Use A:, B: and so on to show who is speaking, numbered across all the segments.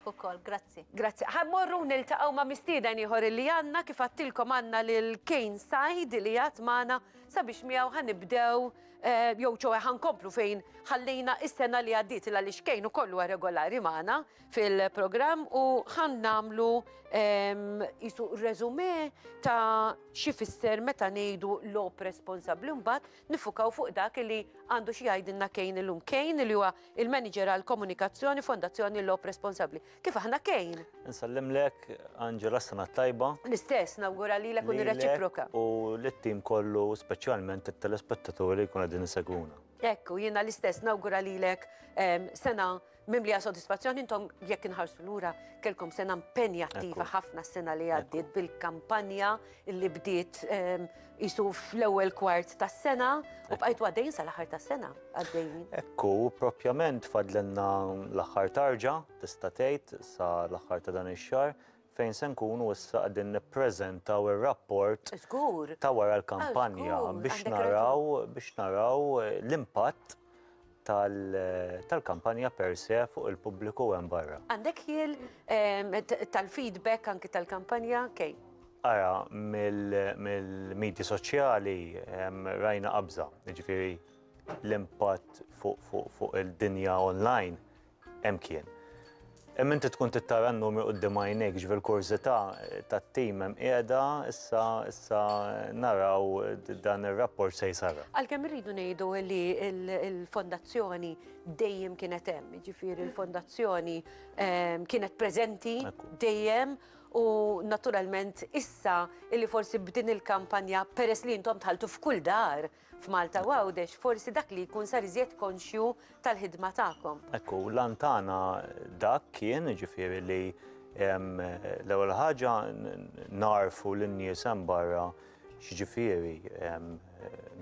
A: ukoll. Grazzi. Grazzi. Ħa mmorru niltaqgħu ma' mistieden ieħor illi għandna, kif għadtilkom għandna lil Kane Said li għad magħna sabiex miegħu ħa nibdew jew ċoe ħa nkomplu fejn ħallejna is-sena li għaddiet il għaliex Kane ukoll huwa regolari magħna fil-programm u ħa nagħmlu qisu reżumé ta' xi fisser meta ngħidu logħob responsabbli mbagħad nifukaw fuq dak li għandu xi jgħidilna Kane illum. Kane li huwa Il-Manager għall-Komunikazzjoni, Fondazzjoni Lob Responsabbli. Kif aħna kejn? Insellimlek, Angela, s-sena t-tajba. L-istess, nawgura lilek u nirreċiproka. U lit-tim kollu, speċjalment it-telespettaturi li jkun qegħdin isegwuna. Ekku, jiena l-istess nawgura lilek em, sena mimlija sodisfazzjoni intom jekk inħarsu lura kelkom sena impenjattiva Ekku. ħafna s-sena li għaddiet bil-kampanja li bdiet qisu fl-ewwel kwart tas-sena u bqajtu għaddejjin sal-aħħar tas-sena għaddejjin. Hekk hu, proprjament fadlilna l-aħħar tarġa tista' tgħid sa l-aħħar ta' dan ix-xahar fejn se nkunu issa qegħdin nippreżentaw ir-rapport ta' wara l-kampanja biex naraw biex naraw l-impatt tal-kampanja per se fuq il-pubbliku hemm barra. Għandek ħiel tal-feedback anki tal-kampanja, Kej? Ara, mill-medji soċjali rajna qabża, jiġifieri l-impatt fuq il-dinja online Hemm kien. Hemm inti tkun tittara n-numri quddiem għajnejk, ġifier kurżità tat-tim hemm qiegħda issa issa naraw dan ir-rapport se jsarra. Għalkemm irridu ngħidu li l-fondazzjoni dejjem kienet hemm, jiġifieri l-fondazzjoni kienet preżenti dejjem u naturalment issa illi forsi b'din il-kampanja peress li intom dħaltu f'kull dar, F'Malta u Għawdex forsi dak li jkun sar iżjed konxju tal-ħidma tagħkom. Hekk hu, l-għan tagħna dak kien, jiġifieri li l-ewwel ħaġa nagħrfu lin-nies hemm barra x'jiġifieri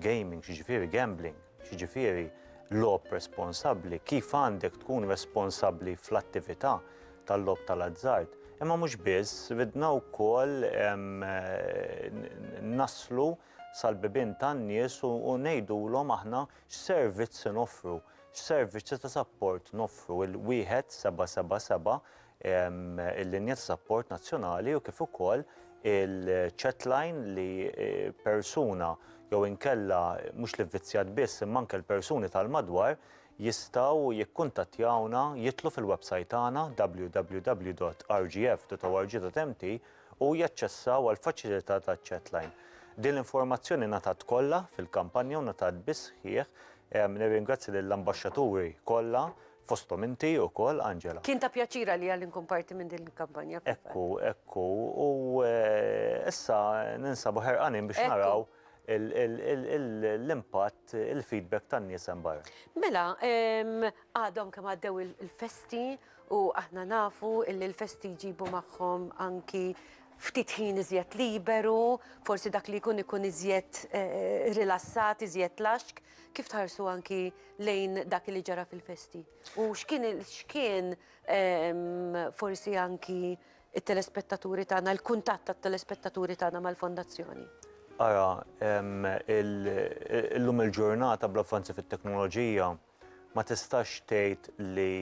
A: gaming, x'jiġifieri gambling, x'jiġifieri logħob responsabbli, kif għandek tkun responsabbli fl-attività tal-logħob tal-azzard. Imma mhux biss, ridna wkoll naslu sal-bibien tan-nies u ngħidulhom aħna x'servizz inoffru, x'servizzi ta' sapport noffru. Il-1777, il-linja ta' sapport nazzjonali u kif ukoll il-chatline li persuna jew inkella mhux l-ivvizzjat biss imma anke l-persuni tal-madwar jistgħu jikkuntattjawna, jidħlu fil-websajt tagħna www.rgf.org.mt u jaċċessaw għall-faċilità ta' chatline. Din l-informazzjoni ngħatat kollha fil-kampanja u ngħatat bis-sħiħ. Nirringrazzja lill-ambaxxaturi kollha, fosthom inti wkoll, Angela. Kien ta' pjaċir għalija li nkun parti minn din il-kampanja. Hekk hu, hekk hu. U issa ninsabu ħerqanin biex naraw l-impatt, il-feedback tan-nies hemm barra. Mela, għadhom kemm għaddew il-festi U aħna nafu illi l-festi jġibu magħhom anki ftit ħin iżjed liberu, forsi dak li jkun ikun iżjed rilassat, iżjed laxk. Kif tħarsu anki lejn dak li ġara fil-festi? U x'kien x'kien forsi anki t-telespettaturi tagħna, l-kuntatt tat-telespettaturi tagħna mal-Fondazzjoni? Ara, illum il-ġurnata bl-avvanzi fit-teknoloġija, ma tistax tgħid li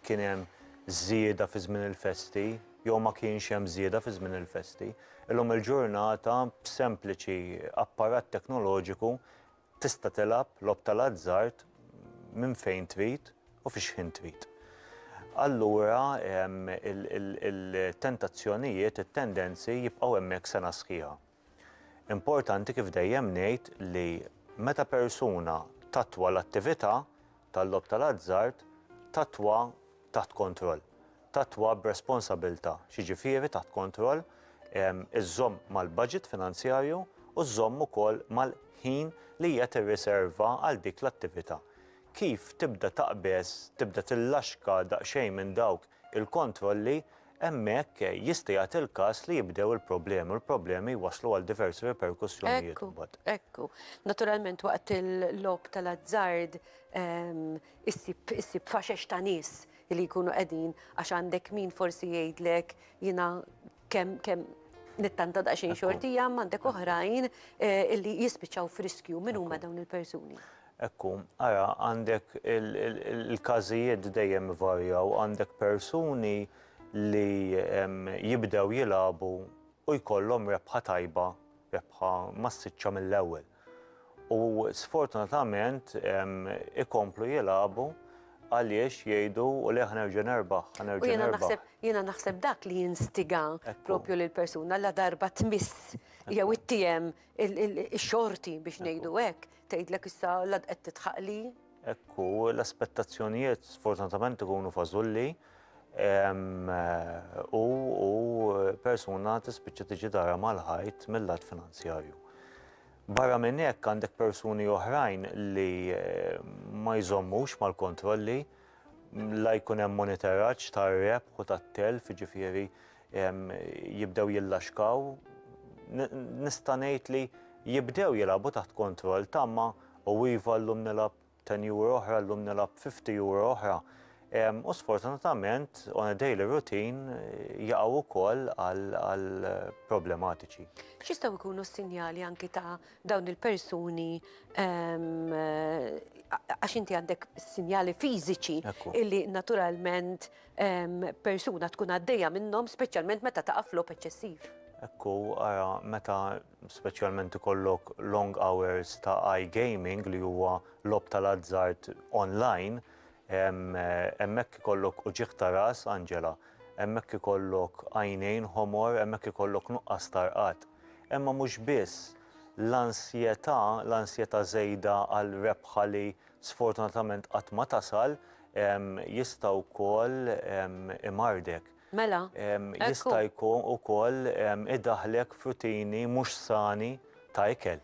A: kien hemm żieda fi żmien il-festi jew ma kienx hemm żieda fi żmien il-festi. Illum il-ġurnata b'sempliċi apparat teknoloġiku tista' tilgħab logħob tal-azzard minn fejn trid u fi x'ħin trid. Allura il-tentazzjonijiet, it-tendenzi jibqgħu hemmhekk sena sħiħa. Importanti kif dejjem ngħid li meta persuna tattwa l-attività tal-logħob tal-azzard, tattwa taħt kontroll, tattwa b'responsabilità, x'jiġifieri taħt kontroll, iżżomm mal-budget finanzjarju u żżomm ukoll mal-ħin li hija tirriserva għal dik l-attività. Kif tibda taqbeż, tibda tillaxka daqsxejn minn dawk il-kontrolli, hemmhekk jista' jagħti l-każ li jibdew il-problemi u l-problemi jwasslu għal diversi riperkussjonijiet imbagħad. Ekku, ekku. Naturalment waqt il-logħob tal-azzard issib issib faxex ta' nies li jkunu qegħdin għax għandek min forsi jgħidlek jiena kemm kemm nittanta daqsxejn xortija imma għandek oħrajn li jispiċċaw f'riskju. Min huma dawn il-persuni? Hekk hu. Ara, għandek il-każijiet dejjem ivarjaw, għandek persuni li jibdew jilagħbu u jkollhom rebħa tajba, rebħa massiċċa mill-ewwel. U sfortunatament ikomplu jilagħbu għaliex jgħidu u le ħa nerġa' nerbaħ, ħa nerġa' nerbaħ. U jiena naħseb dak li jinstiga proprju lill-persuna ladarba tmiss jew ittiehem Ix-xorti biex ngħidu hekk, tgħidlek issa l għad qed tidħaq li. Hekk hu, l-aspettazzjonijiet sfortunatament ikunu fażulli u persuna tispiċċa tiġi darha mal-ħajt mil-lat finanzjarju. Barra minn hekk għandek persuni oħrajn li eh, ma jżommux mal-kontrolli la jkun hemm monitoraġġ tar-rebħ u tat-telf, jiġifieri jibdew jillaxkaw, nista' ngħid li jibdew jilagħbu taħt kontroll tama u iva llum nilgħab ten euro oħra, llum nilgħab fifty euro oħra. U sfortunatament on a daily routine jaqgħu wkoll għal problematiċi. X'jistgħu jkunu s-sinjali anki ta' dawn il-persuni għax inti għandek sinjali fiżiċi illi naturalment persuna tkun għaddejja minnhom speċjalment meta taqa' f'logħob eċċessiv. Hekk hu, ara meta speċjalment ikollok long hours ta' iGaming li huwa logħob tal-azzard online, hemmhekk ikollok uġigħ ta' ras, Angela, hemmhekk ikollok għajnejn ħomor, hemmhekk ikollok nuqqas ta' rqad. Imma mhux biss, l-ansjetà, l-ansjetà żejda għall-rebħa li sfortunatament qatt ma tasal, jista' wkoll imardek. Mela, hekk hu. Jista' jkun ukoll idaħħlek f'rutini mhux sani ta' ikel,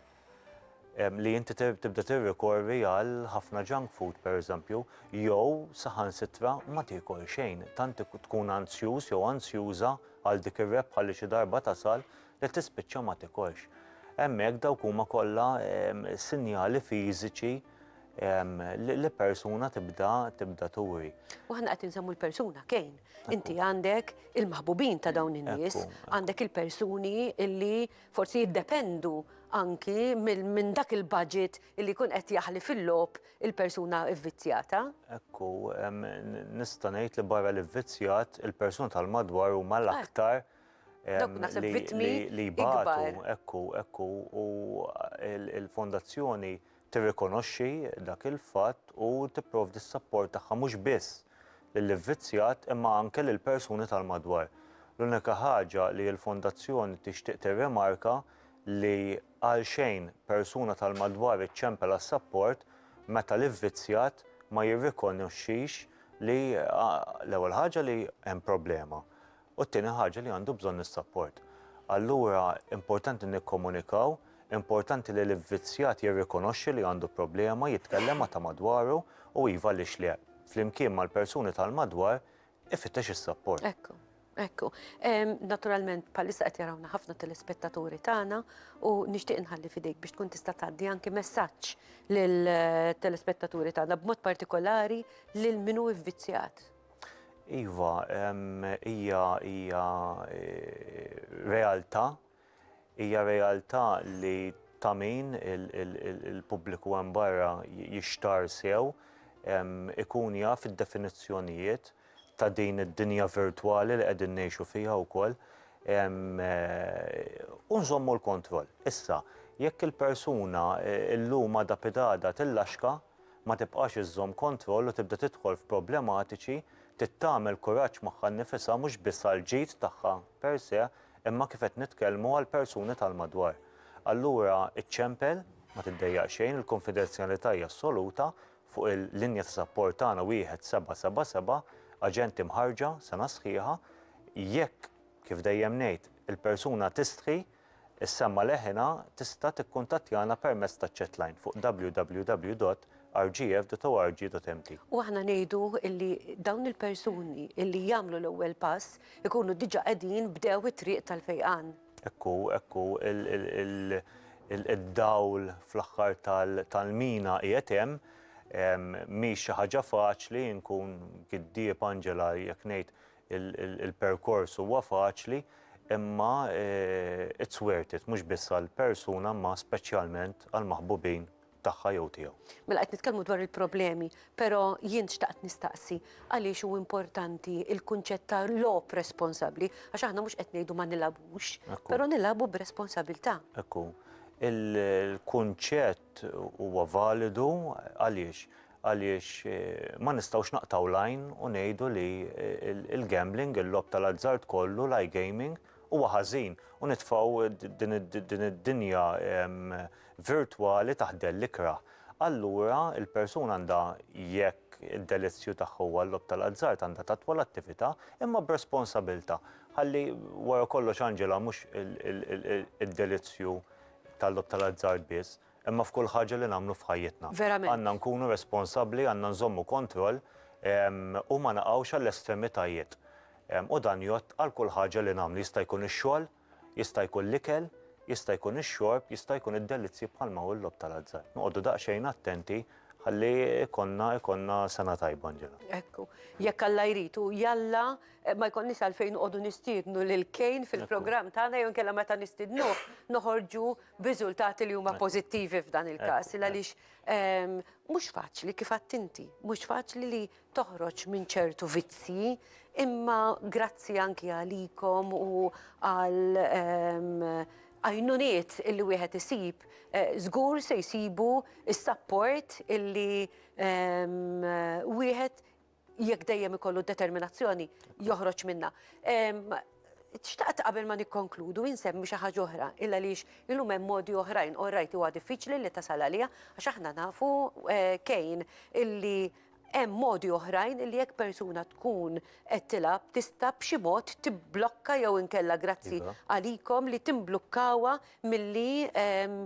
A: li inti tibda tirrikorri għal ħafna junk food, pereżempju, jew saħansitra ma tiekol xejn, tant tkun anzjuż jew anzjuża għal dik ir-rebħa li xi darba tasal, li tispiċċa ma tikolx. Hemmhekk dawk huma kollha ehm, sinjali fiżiċi ehm, li persuna tibda tibda turi. U ħna qed insemmu l-persuna kejn. Inti għandek il-maħbubin ta' dawn in-nies, għandek il-persuni illi forsi jiddependu anki minn dak il-budget illi kun qed jaħli fil-lob il-persuna vvizzjata. Ekku, ehm, nista' ngħid li barra l-vvizzjat il-persuna tal-madwar huma l-aktar. Ah. li jbatu, ekku, ekku, u l-Fondazzjoni tirrikonoxxi dak il-fatt u tipprovdi s-sapport tagħha mhux biss lill-ivvizzjat imma anke lill-persuni tal-madwar. L-unika ħaġa li l-Fondazzjoni tixtieq tirrimarka li għalxejn persuna tal-madwar iċċempel għas-sapport meta l-ivvizzjat ma jirrikonoxxix li l-ewwel ħaġa li hemm problema. u t-tieni ħaġa li għandu bżonn is-sapport. Allura importanti nikkomunikaw, importanti li l-ivvizzjat jirrikonoxxi li għandu problema, jitkellem ma' ta' madwaru u iva għaliex le, flimkien mal-persuni tal-madwar ifittex is-sapport. Ekku, ekku. Naturalment bħalissa qed jarawna ħafna telespettaturi tagħna u nixtieq inħalli f'idejk biex tkun tista' tgħaddi anki messaġġ lill-telespettaturi tagħna b'mod partikolari lil min hu vvizzjat. Iva, hija hija realtà, hija realtà li ta' min il-pubbliku hemm barra jixtar sew ikun jaf id-definizzjonijiet ta' din id-dinja virtwali li qegħdin ngħixu fiha wkoll u nżommu l-kontroll. Issa, jekk il-persuna llum għada pidada tillaxka, ma tibqax iżżomm kontroll u tibda tidħol f'problematiċi, trid tagħmel kuraġġ magħha nnifisha mhux biss għall-ġid tagħha per se, imma kif qed nitkellmu għall-persuni tal-madwar. Allura iċċempel, ma tiddejjaq xejn, il-kunfidenzjalità hija assoluta, fuq il-linja ta' sapport tagħna wieħed seba' seba' seba', aġenti mħarrġa, sena sħiħa, jekk, kif dejjem ngħid, il-persuna tistħi, Is-semma leħinha tista' tikkuntattjana permezz taċ-chatline fuq www.rgf.org.mt. U aħna ngħidu illi dawn il-persuni illi jagħmlu l-ewwel pass ikunu diġà qegħdin bdew it-triq tal-fejqan. Hekk hu, hekk hu, id-dawl fl-aħħar tal-mina qiegħed hemm. Mhix xi ħaġa faċli, inkun giddieb Angela jekk ngħid Il-perkors huwa faċli imma it's worth it mhux biss għall-persuna imma speċjalment għall-maħbubin tagħha jew tiegħu. Mela qed nitkellmu dwar il-problemi, però jien xtaqt nistaqsi għaliex hu importanti l-kunċett ta' logħob responsabbli għax aħna mhux qed ngħidu ma nilgħabux, però nilagħbu b'responsabilità. Hekk hu. Il-kunċett huwa validu għaliex? Għaliex ma nistgħux naqtgħu l-għajn u ngħidu li l-gambling, il-logħob tal-azzard kollu, l-iGaming, huwa ħażin u nitfgħu din id-dinja virtwali taħt dell ikrah. Allura l-persuna għandha jekk id-delizzju tagħha huwa l-logħob tal-azzard għandha tattwa l-attività imma b'responsabilità. Ħalli wara kollox Angela mhux id-delizzju tal-logħob tal-azzard biss, imma f'kull ħaġa li nagħmlu f'ħajjitna. Verament. Għandna nkunu responsabbli, għandna nżommu kontroll, u ma naqgħux għall-estremitajiet. U dan jgħodd għal kull ħaġa li nagħmlu, jista' jkun ix-xogħol, jista' jkun l-ikel, jista' jkun ix-xorb, jista' jkun id-delizzji bħalma hu l-logħob tal-azzard. Noqogħdu daqsxejn attenti ħalli jkollna, jkollna sena tajba, Anġela. Hekk hu. Jekk Alla jrid, u jalla ma jkollniex għalfejn noqogħdu nistiednu lil Kane fil-programm tagħna jew inkella meta nistidnuh noħorġu b'riżultati li huma pożittivi f'dan il-każ. Għaliex ehm, mhux faċli kif għadt inti, mhux faċli li toħroġ minn ċertu vizzji, imma grazzi anki għalikom u għal ehm, għajnuniet illi wieħed isib, eh, żgur se jsibu s-sapport illi ehm, wieħed jekk dejjem ikollu determinazzjoni joħroġ minna. Xtaqt qabel ma nikkonkludu insemmi xi ħaġa oħra, illa lix illum hemm modi oħrajn, u rajt huwa diffiċli li tasal għalija, għax aħna nafu eh, kejn illi hemm modi oħrajn li jekk persuna tkun qed tilab tista' b'xi mod tibblokka jew inkella grazzi iva. għalikom li timblukkawha milli ehm,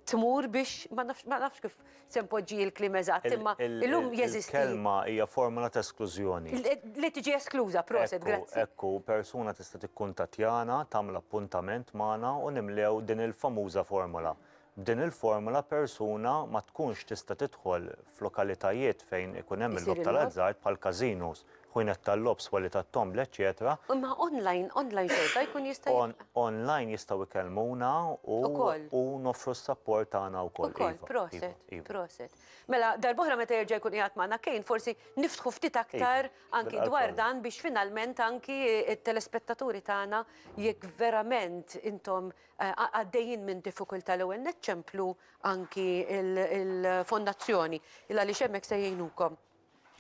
A: tmur biex, ma nafx kif se npoġġi l-kliem eżatt, imma illum jeżisti. Il-kelma hija formula ta' esklużjoni. Li tiġi eskluża, proset, grazzi. Ekku, persuna tista' tikkuntattjana, tagħmel appuntament magħna u nimlew din il-famuża formula. B'din il-formula persuna ma tkunx tista' tidħol f'lokalitajiet fejn ikun hemm il-logħob tal-azzard bħall-każinos, ħwienet tal-logħob, swali tat-tombla, eċċetera. Imma online, online xorta jkun jista' jibqa'? On, online jistgħu jkellmuna u Ukoll. u noffru s-sapport tagħna wkoll. Ukoll, iva, proset, iva, iva. proset. Mela, darb'oħra meta jerġa' jkun qiegħed magħna Kane, forsi niftħu ftit aktar Iva, anki bil-qalb dwar kollha. dan biex finalment anki t-telespettaturi tagħna jekk verament intom eh, għa- għaddejjin minn diffikultà l-ewwel nett ċemplu anki il- il-fondazzjoni il għaliex hemmhekk se jgħinukom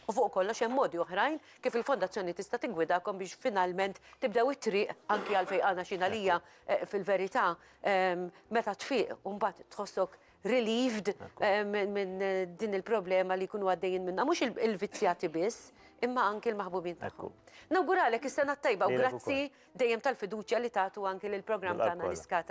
A: U fuq kollox hemm modi oħrajn kif il-Fondazzjoni tista' tiggwidakom biex finalment tibdew it-triq anki għall-fejqana x'inha lija fil-verità meta tfiq u mbagħad tħossok relieved minn din il-problema li jkunu għaddejjin minnha mhux il-vizzjati biss imma anki l-maħbubin tagħhom. Nawguralek is-Sena t-Tajba u grazzi dejjem tal-fiduċja li tagħtu anki lill-programm tagħna L-Iskata.